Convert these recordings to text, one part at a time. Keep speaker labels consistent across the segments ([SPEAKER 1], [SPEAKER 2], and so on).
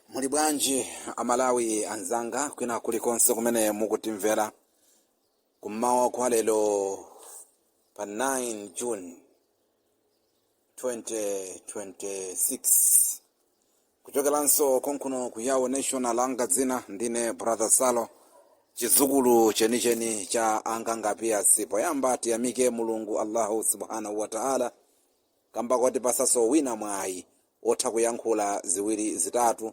[SPEAKER 1] muli bwanji amalawi anzanga kwina kulikonse kumene mukutimvera kummawa kwa lero pa 9 june 2026 kuchokeranso konkuno ku Yawo National langa dzina ndine Brother Salo chizukulu chenicheni cha anganga piasi poyamba tiyamike mulungu allahu subhanahu wataala kamba kotipasaso wina mwayi wotha kuyankhula ziwiri zitatu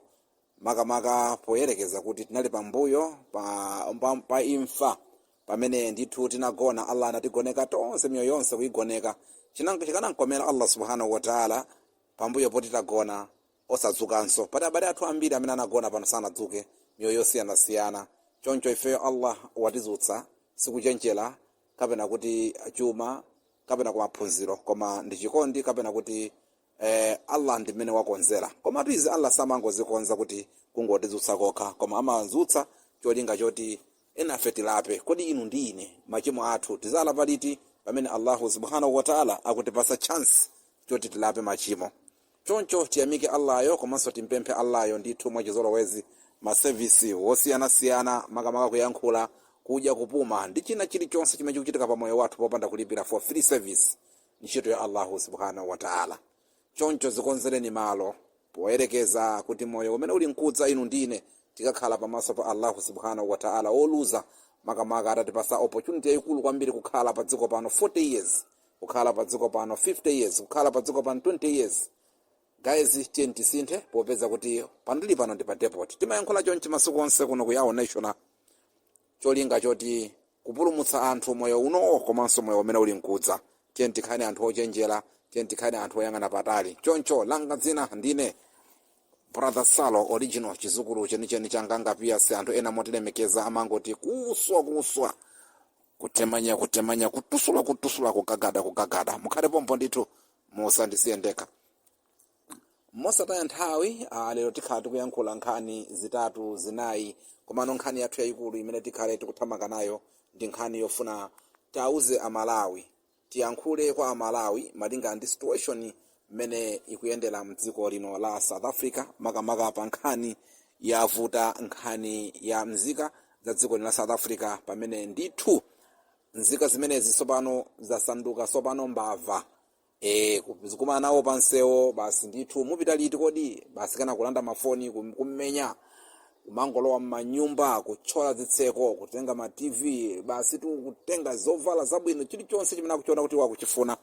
[SPEAKER 1] makamaka poyerekeza kuti tinali pambuyo pa, pa, pa imfa pamene ndithu tinagona allah anatigoneka tonse miyoyo yonse kuigoneka Chinan- chikanamkomera Allah subhanahu wataala pambuyo poti tagona osadzukanso pati abale athu ambiri amene anagona pano sanadzuke miyoyo yosiyanasiyana choncho ifeyo allah watizutsa sikuchenjera kapena kuti chuma kapena kwa maphunziro koma ndi chikondi kapena kuti eh, allah ndi mmene wakonzera komatu izi allah samangozikonza kuti kungotizutsa kokha koma amazutsa cholinga choti enafe tilape kodi inu ndi ine machimo athu tizalapa liti pamene allahu subhanahu wataala akutipasa chance choti tilape machimo Choncho tiyamike Allah yo komanso timpemphe Allah yo ndithu mwachizolowezi ma service wosiyanasiyana makamaka kuyankhula, kudya, kupuma ndi china chilichonse chimene chikuchitika pa moyo wathu popanda kulipira for free service ntchito ya Allahu subhanahu wa ta'ala. Choncho zikonzereni malo poyerekeza kuti moyo umene uli mkudza inu ndine tikakhala pamaso pa Allahu subhanahu wa ta'ala oluza makamaka atatipasa opportunity yayikulu kwambiri kukhala pa dziko pano 40 years kukhala pa dziko pano 50 years kukhala pa dziko pano 20 years guys tiyeni tisinthe popeza kuti pandili pano ndi pa depot timayankhula chonchi masiku onse kuno ku yawo national cholinga choti kupulumutsa anthu moyo unowo komanso moyo umene uli mkudza tiyeni tikhale anthu ochenjera tiyeni tikhale anthu oyang'ana patali choncho langa dzina ndine brother salo original chizukulu chenicheni cha anganga piasi anthu ena motilemekeza amangoti kuswa kuswa kutemanya kutemanya kutusula kutusula kugagada kugagada mukhale pompo ndithu musandisiye ndekha mosataya nthawi ah, lero tikhala tikuyankhula nkhani zitatu zinayi komano nkhani yathu yayikulu imene tikhale tikuthamanga nayo ndi nkhani yofuna tauze amalawi Tiyankhule kwa amalawi malinga ndi situation mmene ikuyendera mdziko lino la South Africa makamaka pa nkhani yavuta nkhani ya mzika za dziko lino la South Africa pamene ndithu nzika zimenezi tsopano zasanduka tsopano mbava e, zikumana nawo pansewo basi ndithu mupita liti kodi basi kana kulanda mafoni kum- kummenya kumangolowa m'manyumba kuthyola zitseko kutenga ma tv basi tu kutenga zovala zabwino chilichonse chimene akuchiona kuti akuchifuna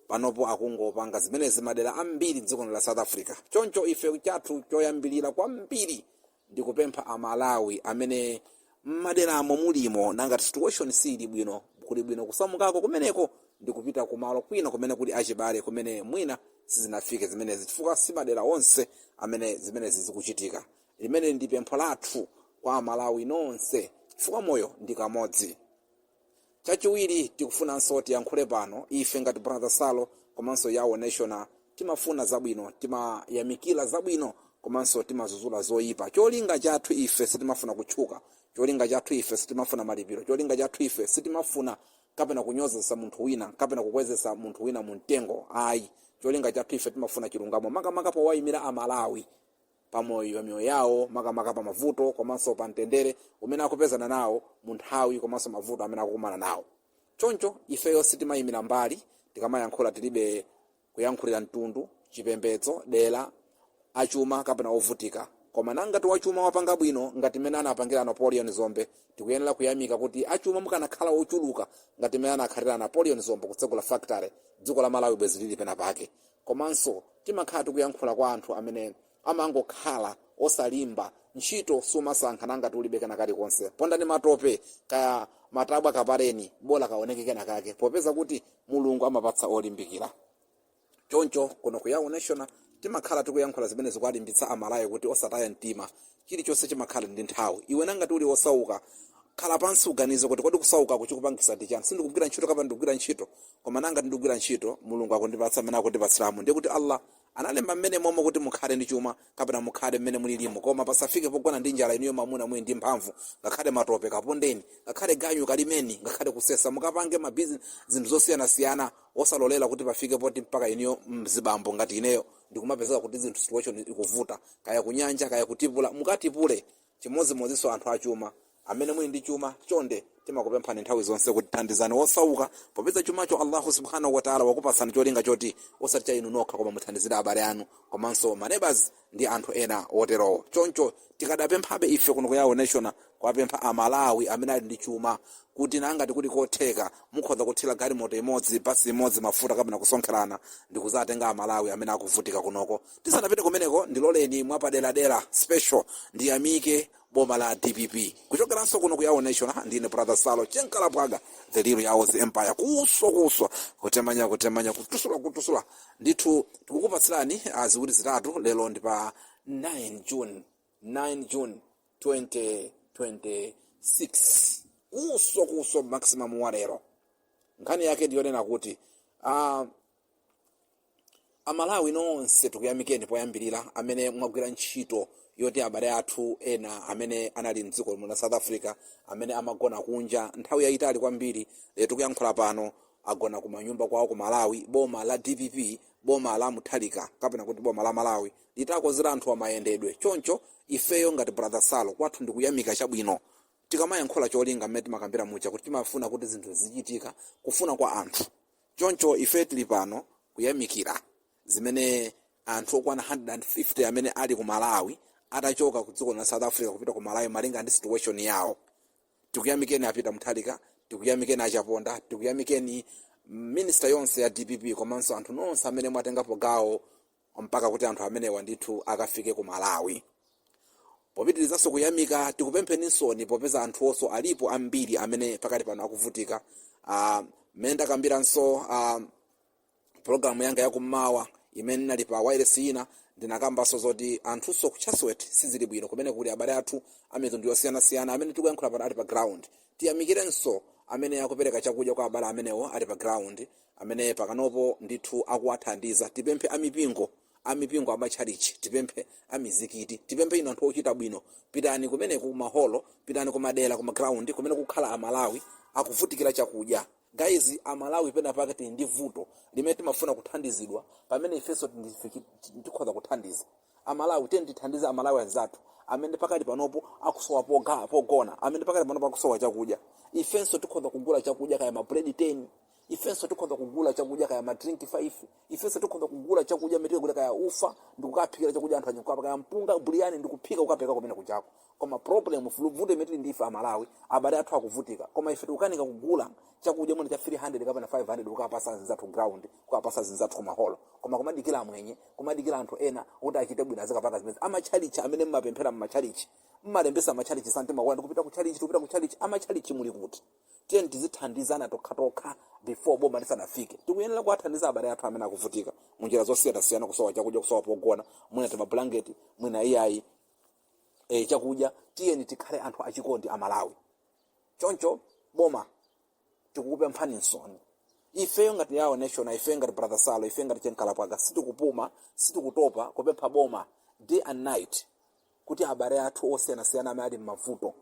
[SPEAKER 1] panopo akungopanga zimenezi madera ambiri m'dziko la south africa choncho ife chathu choyambirira kwambiri ndi kupempha amalawi amene m'maderamo mulimo nangati situation siili bwino kuli bwino kusamukako kumeneko ndi kupita kumalo kwina kumene kuli achibale kumene mwina sizinafike zimenezi chifukwa si madera onse amene zimenezi zikuchitika limene ndi pempho lathu kwa amalawi nonse chifukwa moyo ndi kamodzi chachiwiri tikufunanso tiyankhule pano ife ngati brother salo komanso yawo national timafuna zabwino timayamikira zabwino komanso timazuzula zoyipa cholinga chathu ife sitimafuna kutchuka cholinga chathu ife sitimafuna malipiro cholinga chathu ife sitimafuna kapena kunyozesa munthu wina kapena kukwezesa munthu wina mu mtengo ayi cholinga chathu ife timafuna chilungamo makamaka powayimira amalawi pa moyo pa miyoyo yawo makamaka pa mavuto komanso pa mtendere umene akupezana nawo mu nthawi komanso mavuto amene akukumana nawo choncho ifeyo sitimayimira mbali tikamayankhula tilibe kuyankhulira mtundu chipembedzo dera achuma kapena ovutika koma nangati wachuma wapanga bwino ngati mmene anapangira napoleon dzombe tikuyenera kuyamika kuti achuma mukanakhala ochuluka ngati mmene anakhalira napoleon dzombe kutsegula factory dziko la malawi bwezi lili pena pake komanso timakhala tikuyankhula kwa anthu amene amangokhala osalimba ntchito sumasankha nangati ulibe kena kalikonse pondani matope kaya matabwa kapareni bola kaoneke kena kake popeza kuti mulungu amapatsa olimbikira choncho kuno ku yawo national timakhala tikuyankhula zimene zikuwalimbitsa amalawi kuti osataya mtima chilichonse chimakhala ndi nthawi iwe nangati uli osauka khala pansi uganize kuti kodi kusauka chikupangisa ndi chani sindikugwira ntchito kapena ndikugwira ntchito koma nangati ndikugwira ntchito mulungu akundipatsa mmene akundipatsiramo ndiye kuti allah analemba momwemo kuti mukhale ndi chuma kapena mukhale mmene mulilimo koma pasafike pogona ndi njala inuyo mamuna muli ndi mphamvu ngakhale matope kapondeni ngakhale ganyu kalimeni ngakhale kusesa mukapange mabizinesi zinthu zosiyanasiyana osalolera kuti pafike poti mpaka inuyo mzibambo ngati ineyo ndikumapezeka kuti zinthu situation ikuvuta kaya kunyanja kaya kutipula mukatipule chimodzimodzinso anthu achuma amene muli ndi chuma chonde timakupemphani nthawi zonse kuti thandizani wosauka popeza chumacho allahu subhanahu wataala wakupasani cholinga choti osati cha inu nokha koma muthandizire abale anu komanso manebas ndi anthu ena oterowo choncho tikadapemphabe ife kuno ku yawo national kuwapempha a Malawi amene ali ndi chuma kuti nangati kuli kotheka mukhoza kuthira galimoto imodzi, bus imodzi mafuta kapena kusonkherana ndikuzatenga a Malawi amene akuvutika kunoko. Tisanapite kumeneko ndiloleni mwapaderadera, special, ndiyamike boma la dpp. Kuchokeranso kuno ku Yawo National ndine brother Salo Chenkalapwaga the real Yawo's empire kuswa kuswa kutemanya kutemanya kutusula kutusula ndithu tikukupatsirani ah, ziwiri zitatu lero ndi pa 9 June 9 June 2026 kuso kuso maximum walero nkhani yake ndiyonena kuti uh, amalawi nonse tikuyamikeni poyambirira amene mwagwira ntchito yoti abale athu ena amene anali mdziko muno south africa amene amagona kunja nthawi yayitali kwambiri lero tikuyankhula pano agona kumanyumba kwawo ku malawi boma la dpp boma la Mutharika kapena kuti boma la malawi litakonzera anthuwa mayendedwe choncho ifeyo ngati brother salo kwathu ndikuyamika chabwino tikamayankhula cholinga mmene timakambira muja kuti timafuna kuti zinthu zizichitika kufuna kwa anthu choncho ife tili pano kuyamikira zimene anthu okwana 150 amene ali ku malawi atachoka ku dziko la south africa kupita ku malawi malinga ndi situation yawo tikuyamikeni a Peter Mutharika tikuyamikeni achaponda tikuyamikeni ministry yonse ya dpp komanso anthu nonse amene mwatengapo gawo mpaka kuti anthu amenewa ndithu akafike ku malawi popitirizanso kuyamika tikupempheninsoni popeza anthunso alipo ambiri amene pakati pano akuvutika Ah, mmene ndakambiranso ah, pologalamu yanga yakummawa imene ndinali pa wireless ina ndinakambanso zoti anthunso ku Chatsworth sizili bwino kumene kuli abale athu amitundu yosiyanasiyana amene tikuyankhula pano ali pa ground tiyamikirenso amene akupereka chakudya kwa abale amenewo ali pa ground amene pakalipano ndithu akuwathandiza tipemphe amipingo amipingo amatchalichi tipemphe amizikiti tipemphe inu anthu ochita bwino pitani kumeneko kumaholo pitani kumadera kumagrawundi kumene akukhala amalawi akuvutikira chakudya guys amalawi pena pake tili ndi vuto limene timafuna kuthandizidwa pamene ifenso ndife chi- chi- tikhoza kuthandiza amalawi tiyeni tithandize amalawi anzathu amene pakali panopo akusowa poga- pogona amene pakali panopo akusowa chakudya ifenso tikhoza kugula chakudya kaya mabuledi 10 ifenso tikhoza kugula chakudya kaya madrinki 5 ifenso tikhoza kugula chakudya mete kuti kaya ufa ndikukaphikira chakudya anthu anyakukapa kaya mpunga buliyani ndikuphika kukapereka kumene kujako koma problem vuto limene ndi ife amalawi abale athu akuvutika koma ife tikukanika kugula chakudya mwina cha 300 kapena 500 kukapatsa azinzathu ground kukapatsa azinzathu kumaholo koma kumadikira amwenye kumadikira anthu ena kuti achite bwino azikapanga zimenezi amachalichi amene mmapemphera mmachalichi mmalembetsa machalichi santima kwanu kupita ku chalichi kupita ku chalichi amachalichi muli kuti tiyeni tizithandizana tokhatokha before boma lisanafike tikuyenera kuwathandiza abale athu amene akuvutika munjira zosiyanasiyana kusowa chakudya kusowa pogona mwina timabulangeti mwina iyayi e, chakudya tiyeni tikhale anthu achikondi amalawi choncho boma tikukupemphaninsoni ifeyo ngati Yao national ifeyo ngati brother salo ifeyo ngati chenkalapwaga sitikupuma sitikutopa kupempha boma day and night kuti abale athu osiyanasiyana amene ali m'mavuto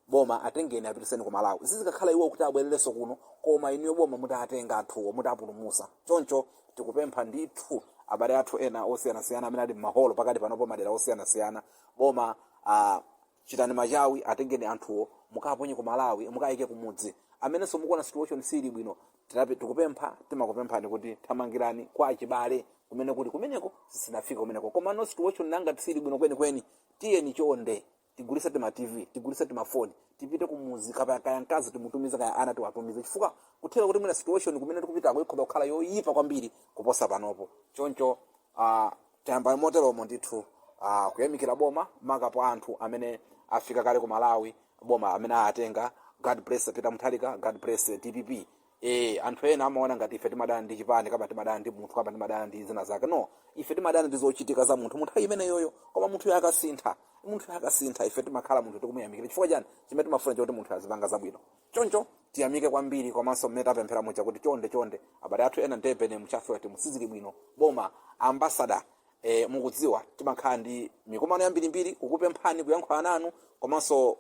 [SPEAKER 1] boma atengeni apitiseni ku malawi zidzikakhala iwo kuti abwererenso kuno koma inuyo boma mutatenga anthuwo mutapulumusa choncho tikupempha ndithu abale athu ena osiyanasiyana amene ali m'maholo pakati panopo madera osiyanasiyana boma ah, chitani machawi atengeni anthuwo mukaponye ku malawi mukayike kumudzi amenenso mukuona situation sili bwino Tinapi- tikupempha timakupemphani kuti thamangirani kwa achibale kumene kuti kumeneko sizinafike kumeneko koma kuno situation ngati sili bwino kwenikweni tiyeni chonde tigulisa tima tv tigulisa tima foni tipite kumuzi kaya kaya mkazi timutumize kaya ana tiwatumize chifukwa kutheka kuti mwina situation kumene tikupitako ikhoza kukhala yoyipa kwambiri kuposa panopo choncho uh, tayambani moteromo ndithu ah, kuyamikira boma maka pa anthu amene afika kale ku malawi boma amene atenga god bless peter mutharika god bless dpp e, anthu ena amaona ngati ife timadana ndi chipani kama timadana ndi munthu kama timadana ndi zina zake no ife timadana ndi zochitika za munthu munthawi imeneyoyo koma munthu uyo akasintha munthu uyo akasintha ife timakhala munthu tikumuyamikira chifukwa chani chimene timafuna chakuti munthu azipanga zabwino choncho tiyamike kwambiri komanso mmene tapemphera muja kuti chonde chonde abale athu ena ndipenemu Chatsworth mu sizili bwino boma ambasada e, mukudziwa timakhala ndi mikumano yambirimbiri kukupemphani kuyankhula nanu komanso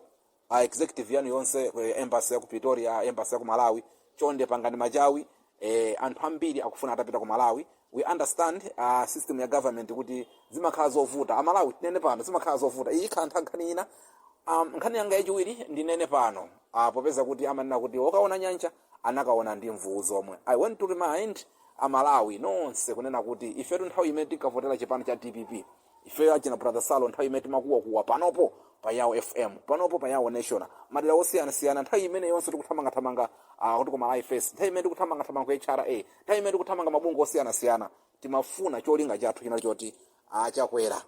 [SPEAKER 1] a executive yanu yonse ku embassy ya ku pretoria embassy ya ku malawi chonde pangani machawi eh, anthu ambiri akufuna atapita ku malawi we understand uh, system ya government kuti zimakhala zovuta amalawi tinene pano zimakhala zovuta iyi ikhala ntha- nkhani ina um, nkhani yanga yachiwiri ndinene pano uh, popeza kuti amanena kuti okaona nyanja anakaona ndi mvuwu zomwe i want to remind amalawi nonse kunena kuti ifetu nthawi imene tinkavotera chipani cha dpp ifeyo achina brother salo nthawi imene timakuwakuwa panopo pa yawo fm panopo pa yawo national madera osiyanasiyana nthawi imene yonse tikuthamangathamanga ah, kuti ku Malawi First nthawi imene tikuthamangathamanga ku hra nthawi imene tikuthamanga mabungwe osiyanasiyana timafuna cholinga chathu chinali choti achakwera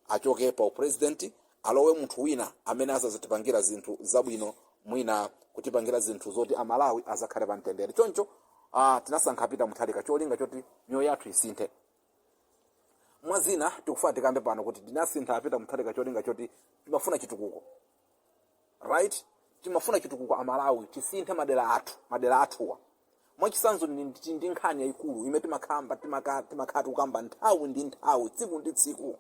[SPEAKER 1] achoke pa upresident alowe munthu wina amene azatipangira zinthu zabwino mwina kutipangira zinthu zoti amalawi azakhale pa mtendere choncho ah, tinasankha peter mutharika cholinga choti miyoyo yathu isinthe mwa zina tikufuna tikambe pano kuti tinasintha a peter mutharika cholinga choti timafuna chitukuko right timafuna chitukuko amalawi tisinthe madera athu madera athuwa mwachisanzo ndi- ndi ndi nkhani yayikulu imene timakhamba timaka- timakhala tikukamba nthawi ndi nthawi tsiku ndi tsiku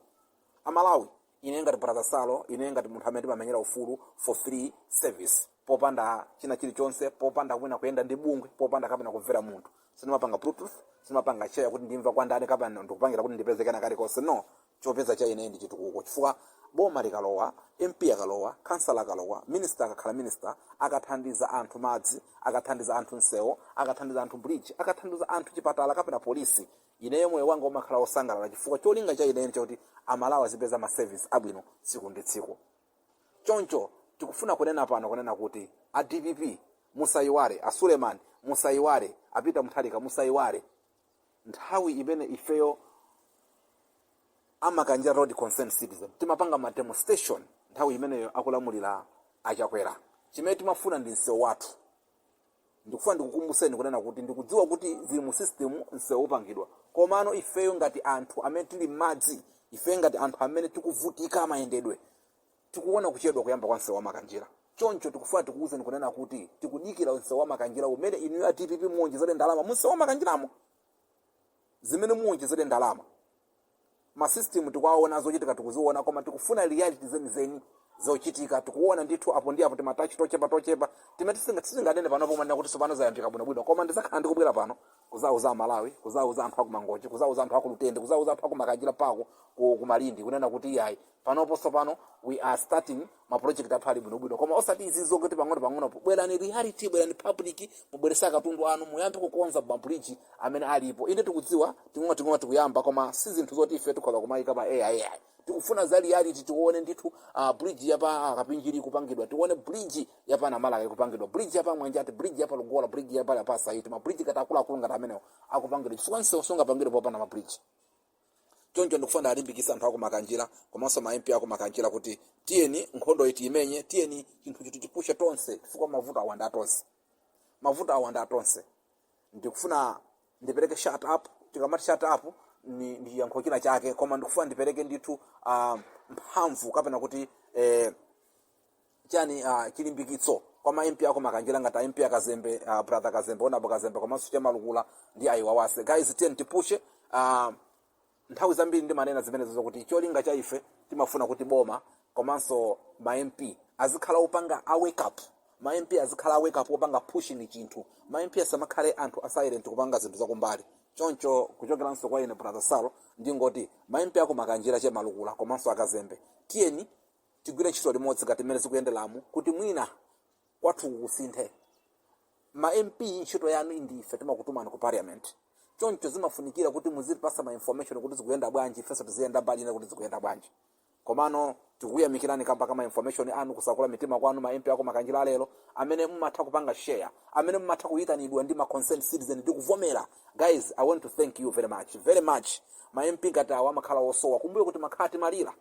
[SPEAKER 1] amalawi ine ngati brother salo ine ngati munthu amene timamenyera ufulu for free service popanda china chilichonse popanda kwina kuyenda ndi bungwe popanda kapena kumvera munthu sindimapanga bluetooth sindimapanga share kuti ndimva kwa ndani kapena ndikupangira kuti ndipeze kena kalikonse no chopeza cha ine ndi chitukuko chifukwa boma likalowa mp akalowa kansala akalowa minista akakhala minista akathandiza anthu madzi akathandiza anthu msewo akathandiza anthu bridge akathandiza anthu chipatala kapena polisi ineyo moyo wanga umakhala wosangalala chifukwa cholinga cha ineyo chakuti amalawi azipeza ma service abwino tsiku ndi tsiku choncho tikufuna kunena pano kunena kuti a dpp musayiwale a suleman musayiwale a Peter Mutharika musayiwale nthawi imene ifeyo amakanjira road concerned citizen timapanga ma demonstration nthawi imeneyo akulamulira a Chakwera chimene timafuna ndi msewu wathu ndikufuna ndikukumbuseni kunena kuti ndikudziwa kuti zili mu system msewu upangidwa komano ifeyo ngati anthu amene tili m'madzi ifeyo ngati anthu amene tikuvutika mayendedwe tikuona kuchedwa kuyamba kwa msewu wamakanjira choncho tikufuna tikuwuzeni kunena kuti tikudikira msewu wamakanjira umene inuyo a dpp muwonjezere ndalama mu msewu wamakanjiramo zimene muwonjezere ndalama ma system tikuwaona zochitika tikuziona koma tikufuna reality zenizeni zochitika tikuona ndithu apo ndi apo timatachi tochepa tochepa timene tisinga- tisinganene pano pomwe kuti sopano zayambika bwinobwino koma ndizakhala ndikubwera pano kuzauza amalawi kuzauza anthu akumangochi kuzauza anthu akulutende kuzauza anthu akumakanjira pako ku ku malindi kunena kuti iyayi panopo tsopano we are starting ma project athu ali bwinobwino koma osati izi zokuti pang'ono pang'ono bwerani reality bwerani public mubwerese katundu anu muyambe kukonza mabridge amene alipo inde tikudziwa ting'ono ting'ono tikuyamba koma si zinthu zoti ife tikhoza kumayika pa air air tikufuna za reality tione ndithu uh, bridge yapa uh, kapinjiri ikupangidwa tione bridge yapa namalaka ikupangidwa bridge yapa mwanjati bridge yapa lugola bridge yapa yapa saiti mabridge akuti akuluakulu ngati amenewo akupangidwa chifukwa nsewu sungapangidwe popanda mabridge choncho ndikufuna ndiwalimbikitse anthu akumakanjira komanso ma mp akumakanjira kuti tiyeni nkhondoyi tiimenye tiyeni chinthuchi tichipushe tonse chifukwa mavutowa nda tonse mavutowa nda tonse ndikufuna ndipereke shout out tikamati shout out ni, ni yankho china chake koma ndikufuna ndipereke ndithu uh, mphamvu kapena kuti eh, chani uh, chilimbikitso kwa ma MP aku makanjira ngati a MP akazembe uh, brother kazembe honourable kazembe komanso che malukula ndi ayiwawase guys tiyeni tipushe uh, nthawi zambiri ndimanena zimenezo zokuti cholinga cha ife timafuna kuti boma komanso ma MP azikhala opanga a wake up ma MP azikhala a wake up opanga pushing chinthu ma MP asamakhale anthu a silent kupanga zinthu zakumbali choncho kuchokeranso kwa ine brother salo ndingoti ma MP aku makanjira che malukula komanso akazembe tiyeni tigwire ntchito limodzi ngati mmene zikuyenderamu kuti mwina kwathu kusinthe ma mp ntchito yanu ndife timakutumani ku parliament choncho zimafunikira kuti muzitipasa ma information kuti zikuyenda bwanji ifenso tiziyenda mbali ina kuti zikuyenda bwanji komano tikuyamikirani kamba kama information anu kusekula mitima kwanu ma mp aku makanjira alero amene mumatha kupanga share amene mumatha kuyitanidwa ndi ma concerned citizen ndi kuvomera guys i want to thank you very much very much ma mp ngati awa amakhala osowa kumbuyoku timakhala timalira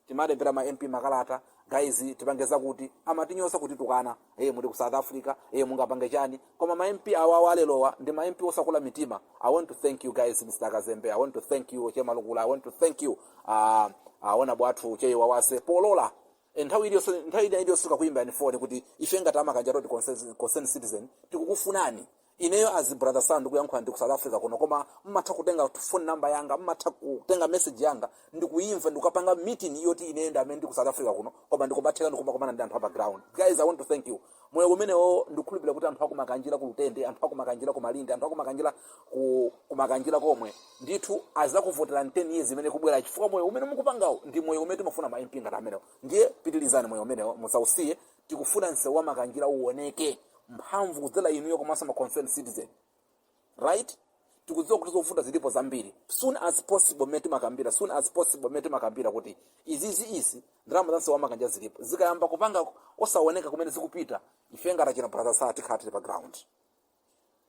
[SPEAKER 1] timalembera ma mp makalata guys tipangeza kuti amatinyoza kutitukana eye muli ku south africa eye mungapange chani koma ma mp awawa a lerowa ndi ma mp osakula mitima i want to thank you guys mr kazembe i want to thank you chemalukula i want to thank you uh, a honourable athu cheyiwa wase polola Eh, nthawi iliyonse nthawi ina iliyonse tikakuyimbani foni kuti ife ngati a Makanjira Road concern citizen tikukufunani ineyo as brother Salo ndikuyankhula ndi ku south africa kuno koma mmatha kutenga phone number yanga mmatha kutenga message yanga ndikuyimva ndikukapanga meeting yoti ineyo ndi amene ndi ku south africa kuno koma ndikumatheka ndikumakumana ndi anthu apa ground guys i want to thank you moyo umenewo ndikukhulupirira kuti anthu akumakanjira ku lutende anthu akumakanjira ku malindi anthu akumakanjira ku kumakanjira komwe ndithu azakuvotera 10 years imene kubwera chifukwa moyo umene mukupangawo ndi moyo umene timafuna ma mp ngati amenewo ndiye pitirizani moyo umenewo musausiye Tikufuna msewu wa Makanjira uwoneke mphamvu kudzera inuyo komanso ma concerned citizen. Right? Tikudziwa kuti zovuta zilipo zambiri. Soon as possible mmene timakambira, soon as possible mmene timakambira kuti izizi izi ndalama za msewu wa Makanjira zilipo. Zikayamba kupanga osawoneka kumene zikupita, ife ngati achina brother Salo tikhala tili pa ground.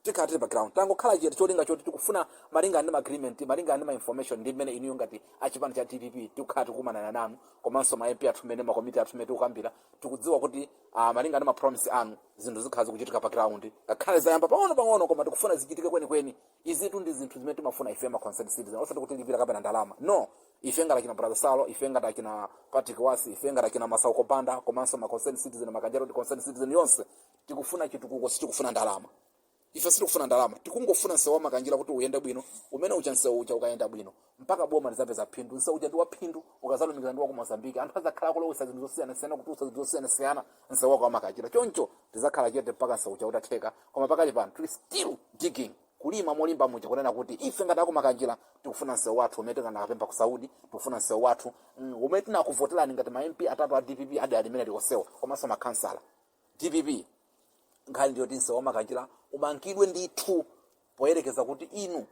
[SPEAKER 1] tikhala tili pa ground tangokhala chete cholinga choti tikufuna malingana ndi ma agreement malingana ndi ma information ndi mmene inuyo ngati achipani cha dpp tikukhala tikukumanana nanu komanso ma mp athu mmene makomiti athu mmene tikukambira tikudziwa kuti ah, malingana ndi ma promise anu zinthu zikhala zikuchitika pa ground ngakhale zayamba pang'ono pang'ono koma tikufuna zichitike kwenikweni izitu ndi zinthu zimene timafuna ife ma concerned citizen osati kuti lipira kapena ndalama no ife ngati achina brother salo ife ngati achina patrick wasi ife ngati achina masauko panda komanso ma concerned citizen Makanjira Road concerned citizen yonse tikufuna chitukuko sitikufuna ndalama ife sitikufuna ndalama tikungofuna msewu wamakanjira kuti uyende bwino umene uja msewu uja ukayenda bwino mpaka boma lizapeza phindu msewu uja ndi waphindu ukazalumikira ndi wa ku Mozambique anthu azakhala kulowesa zinthu zosiyanasiyana kutulutsa zinthu zosiyanasiyana msewu wako wamakanjira choncho tizakhala chete mpaka msewu uja utatheka koma pakali pano tili still digging kulima molimba muja kunena kuti ife ngati akumakanjira tikufuna msewu wathu umene tinakapempha ku saudi tikufuna msewu wathu mm, umene tinakuvoterani ngati ma mp atatu a dpp adi alimene likosewa komanso makhansala Dpp nkhani ndiyoti msewu wa Makanjira umangidwe ndithu poyerekeza kuti inu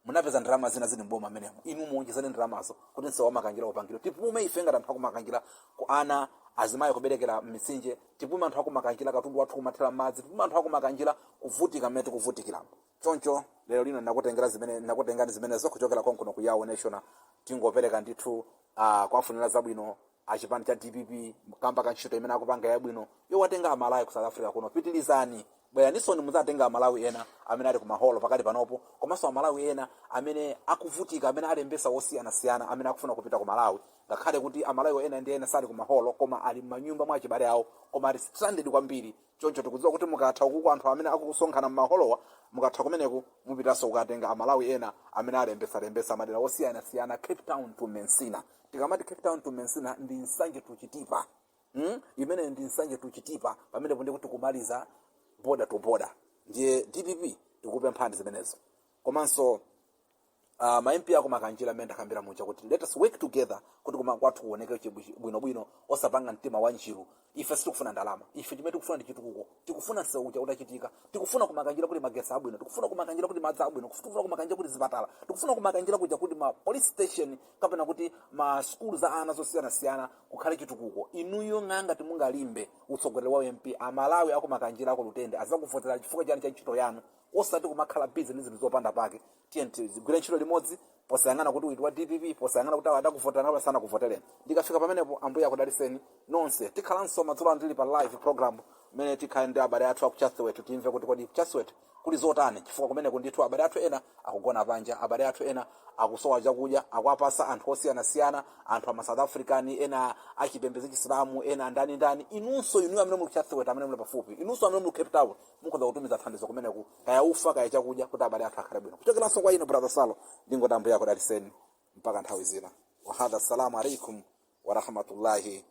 [SPEAKER 1] munapeza ndalama zina zili mboma amenemo inu muonjezane ndalamazo kuti msewu wa Makanjira upangidwe tipume ife ngati anthu akumakanjira kuona azimayi kuberekera m'mitsinje tipume anthu akumakanjira katundu wathu kumathera m'madzi tipume anthu akumakanjira kuvutika mmene tikuvutikiramo choncho lero lino ndinakutengera zimene ndinakutengani zimenezo kuchokera konkuno ku Yao national tingopereka ndithu uh, kuwafunira zabwino achipani cha dpp kamba ka ntchito imene akupanga yabwino yowatenga amalawi ku south africa kuno pitilizani bweraninsoni muzatenga amalawi ena amene ali ku maholo pakali panopo komanso amalawi ena amene akuvutika amene alembesa osiyanasiyana amene akufuna kupita ku malawi ngakhale kuti amalawi ena ndi ena sali ku maholo koma ali m'manyumba mwa achibale awo koma ali stranded kwambiri choncho tikudziwa kuti mukatha ukuku anthu amene akusonkhana m'maholowa mukatha kumeneku mupitanso kukatenga amalawi ena amene alembesa lembesa madera osiyanasiyana cape town to Messina tikamati cape town to messina ndi nsanje to chitipa hmm? imeneyo ndi nsanje to chitipa pamenepo ndi kuti kumaliza border to border ndiye dpp tikupemphani zimenezo komanso uh, ma mp aku makanjira amene ndakambira muja kuti let us work together kuti kumakwathu kuoneke bwinobwino osapanga mtima wa njiru ife sitikufuna ndalama ife chimene tikufuna ndi chitukuko tikufuna msewu uja utachitika tikufuna kumakanjira kuti magesi abwino tikufuna kumakanjira kuti madzi abwino tikufuna kumakanjira kuti zipatala tikufuna kumakanjira kuja kuti ma police station kapena kuti ma sukulu a ana zosiyanasiyana kukhale chitukuko inuyo ngakhale simungalimbe utsogoleri wa mp amalawi akumakanjira aku lutende azakuvotera chifukwa chani cha ntchito yanu osati kumakhala busy ndi zinthu zopanda pake tiyeni tigwire ntchito limodzi posayang'ana kuti uyu wa dpp posayang'ana kuti awa adakuvotera kapena sanakuvotereni ndikafika pamenepo ambuye akudaliseni nonse tikhalanso madzulo ano tili pa live program imene tikhale ndi abale athu aku chatsworth timve kuti kodi chatsworth kuli zotani chifukwa kumeneko ndithu abale athu ena akugona panja abale athu ena akusowa chakudya akuwapasa anthu osiyanasiyana anthu ama south african ena achipembedzo chisilamu ena ndani ndani inunso inuyo amene muli ku chatsworth amene muli pafupi inunso amene muli ku cape town mukhoza kutumiza thandizo kumeneko kaya ufa kaya chakudya kuti abale athu akhale bwino kuchokeranso kwa ine brother salo ndingoti ambuye akudaliseni mpaka nthawi ina wahadha assalamu alaikum warahmatullahi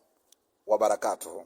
[SPEAKER 1] wabarakatuhu